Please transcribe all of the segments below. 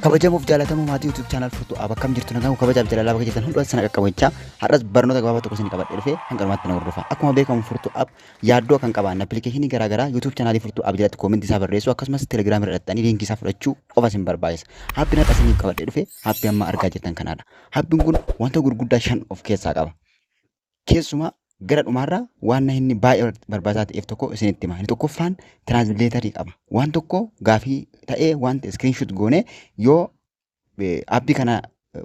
kabajamuuf jaalatamu maatii YouTube channel furtuu ab akkam jirtu nagaan kabajaaf jaalalaa bakka jirtan hundumaa sana qaqqabu jecha har'as barnoota gabaabaa tokko isin qabadhe dhufe hanga dhumaatti na hordofa akkuma beekamu furtuu ab yaaddoo kan qaban appilikeeshinii garaa garaa YouTube channel furtuu ab jalatti koomentii isaa barreessu akkasumas Telegram irra dhaxxanii liinkii isaa fudhachuu qofa isin barbaachisa haappiin har'a isiniif qabadhe dhufe haappii amma argaa jirtan kanaadha haappiin kun wanta gurguddaa shan of keessaa qaba Keessumaa gara dhumaarraa waan inni baay'ee barbaachisaa ta'eef tokko isinitti hima. Inni tokkoffaan tiraansileetarii qaba. Waan tokko gaafii ta'ee waan ta'e iskiriinshuut goonee yoo aappii kana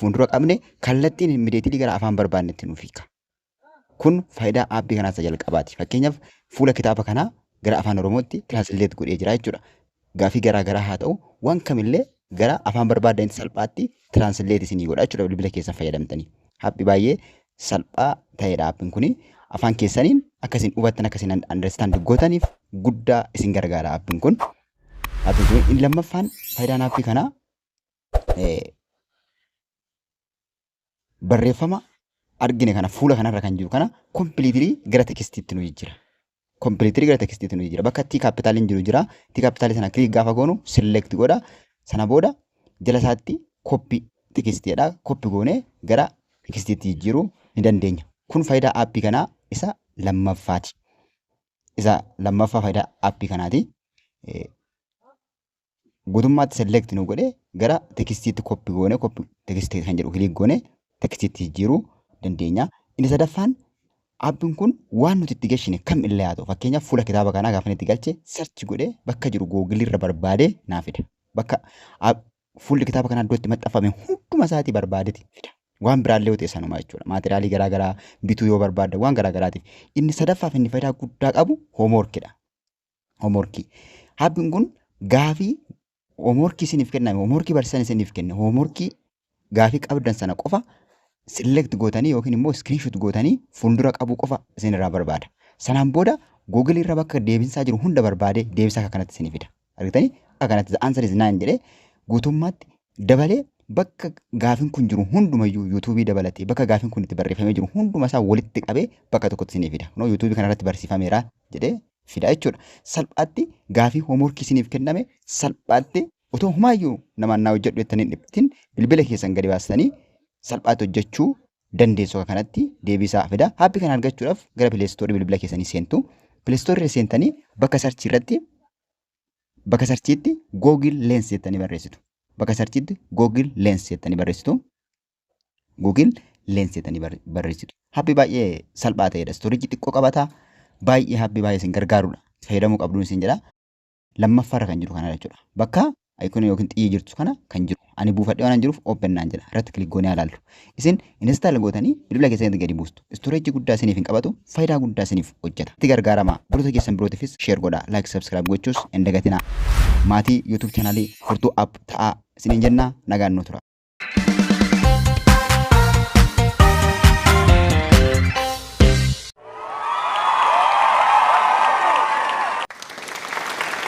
fuuldura qabne kallattiin immideetilii gara afaan barbaannetti nuuf hiika. Kun faayidaa aappii kanaa isa jalqabaati. Fakkeenyaaf fuula kitaaba kanaa gara afaan oromootti tiraansileet godhee jira jechuudha. gaafii garaa garaa haa ta'u waan kamillee gara afaan barbaaddanitti salphaatti translate isinii godha jechuudha bilbila keessan fayyadamtanii. Haphi baay'ee salphaa ta'edha haphin kuni afaan keessaniin akka isin hubattan akka isin understand gootaniif guddaa isin gargaara haphin kun. Haphin kun inni lammaffaan faayidaan haphii kanaa eh, barreeffama argine kana fuula kanarra kan jiru kana kompiliitirii gara tekstiitti nu jijjiira. Kompiliitirii gara tekstiitti nu jijjiira. Bakka tii kaapitaaliin jiru jira. Tii kaapitaalii sana kiliik gaafa goonu select godha. Sana booda jala isaatti koppi tekstii jedha. Koppi goonee gara tekstiitti jijjiiruu ni dandeenya. Kun faayidaa aappii kanaa isa lammaffaati. Isa lammaffaa faayidaa aappii kanaati. guutummaatti select nu godhe gara tekstiitti koppi goone koppi teksti kan jedhu kiliik goone tekstiitti jijjiiruu dandeenya. Inni sadaffaan appiin kun waan nuti itti gashine kam illee haa ta'u fakkeenyaaf fuula kitaaba kanaa gaafa itti galche search godhe bakka jiru googilii irra barbaadee naa fida. Bakka app- fuulli kitaaba kanaa iddoo itti maxxanfame hunduma isaatii barbaadeti fida. Waan biraallee yoo ta'e sanuma jechuudha. Maateriyaalii garaa garaa bituu yoo barbaadda waan garaa garaatiif. Inni sadaffaaf inni fayidaa guddaa qabu hoomworkidha. hoomorkii. Haabbiin kun gaafii hoomorkii isiniif kenname hoomorkii barsiisan isiniif kenne hoomorkii gaafii qabdan sana qofa select gootanii yookiin immoo screenshot gootanii fuuldura qabuu qofa isinirraa barbaada. Sanaan booda Google irra bakka deebinsaa jiru hunda barbaadee deebisa akka kanatti isinii fida. Argitanii akka kanatti the answer is nine jedhee guutummaatti dabalee bakka gaafin kun jiru hundumayyuu yuutuubii dabalatee bakka gaafin kun itti barreeffamee jiru hunduma isaa walitti qabee bakka tokkotti isinii fida. Kunoo yuutuubii kanarratti barsiifameera jedhee fida jechuudha. Salphaatti gaafii hoomworkii isiniif kenname salphaatti otoo humaayyuu namaan naa hojjedhu jettanii hin dhiphatin bilbila keessan gadi baastanii salphaatti hojjechuu dandeessu akka kanatti deebii isaa fida. Aappi kana argachuudhaaf gara pileestoorii bilbila keessanii seentu. Pileestoorii seentanii bakka sarchii irratti Bakka sarchiitti Google Lens jettanii barreessitu. Bakka sarchiitti Google Lens jettanii barreessitu. Google Lens jettanii barre- barreessitu. Habbi baay'ee salphaa ta'edha. Istoorejii xiqqoo qabata. Baay'ee habbi baay'ee isin gargaarudha. Fayyadamuu qabduun isin jedha. Lammaffaarra kan jiru kanadha jechuudha. Bakka ayikona yookiin xiyyi jirtu kana kan jiru. ani buufadhee waan jiruuf open naan jedha irratti kilik goonee ilaallu isin install gootanii bilbila keessatti gadi buustu storage guddaa isiniif hin qabatu faayidaa guddaa isiniif hojjeta itti gargaaramaa hordoftoota keessan birootiifis share godhaa like subscribe gochuus hin dagatinaa maatii youtube channel furtuu app ta'aa isiniin jennaa nagaan nu tura